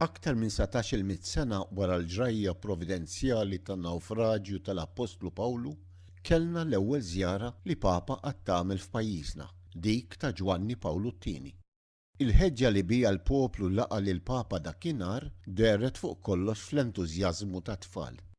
Aktar minn satax-il mitt sena wara l-ġrajja providenzjali tan-nawfraġju tal-appostlu Pawlu, kellna l-ewwel żjara li Papa qatt għamel f'pajjiżna, dik ta' Ġwanni Pawlu t-Tieni. Il-ħeġġa li biha l-poplu laqa' lill-Papa dakinhar dehret fuq kollox fl-entużjażmu tat-tfal.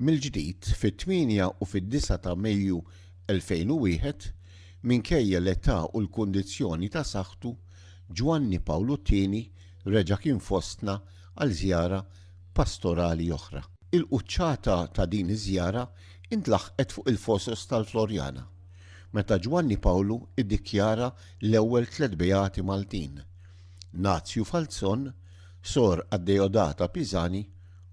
Mill-ġdid, fit-tmienja u fid-disgħa ta' Mejju 2001, minkejja l-età u l-kundizzjoni ta' saħħtu, Ġwanni Pawlu t-Tieni reġa' kien fostna għal żjara pastorali oħra. Il-quċċata ta' din iż-żjara intlaħqet fuq il-Fosos tal-Floriana, meta Ġwanni Pawlu iddikjara l-ewwel tliet beati Maltin, Nazju Falzon, Sor Addeodata Pisani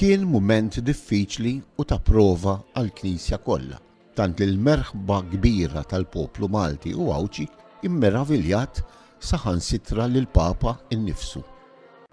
Kien mument diffiċli u ta' prova għall-Knisja kollha, tant li l-merħba kbira tal-poplu Malti u Għawdxi mmeraviljat saħansitra lill-Papa nnifsu.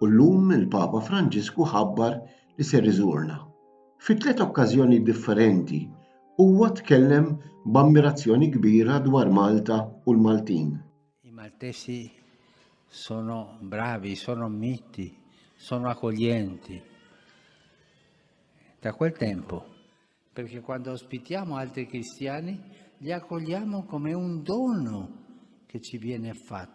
u llum il-Papa Franġisku ħabbar li ser iżurna. Fi tliet okkażjonijiet differenti huwa tkellem b'ammirazzjoni kbira dwar Malta u l-Maltin. I Maltesi sono bravi, sono miti, sono accoglienti. Da quel tempo, perché quando ospitiamo altri cristiani li accogliamo come un dono che ci viene fatto.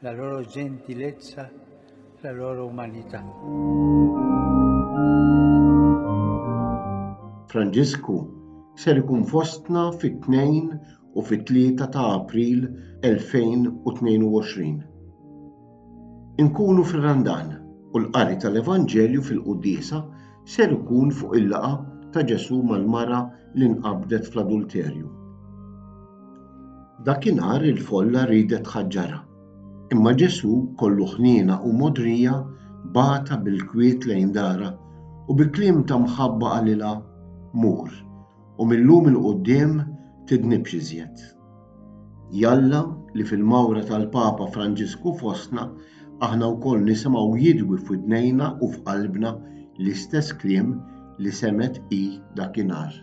La loro gentilezza, la loro umanità. Franġisku ser ikun fostna fit-tnejn u fit-tlieta ta' April 2022. Inkunu fir-Randan u l-qari tal-Evanġelju fil-quddiesa ser ikun fuq il-laqgħa ta' Ġesù mal-mara li nqabdet fl-adulterju. Dakinhar il-folla riedet tħaġġarha, imma Ġesù kollu ħniena u mogħdrija bagħatha bil-kwiet lejn darha u bi kliem ta' mħabba qalilha, Mur, u mil-lum 'il quddiem tidnibx iżjed. Jalla li fil-mawra tal-Papa Franġisku fostna aħna wkoll nisimgħu jidwi f'widnejna u f'qalbna l-istess kliem li semgħet hi dakinhar.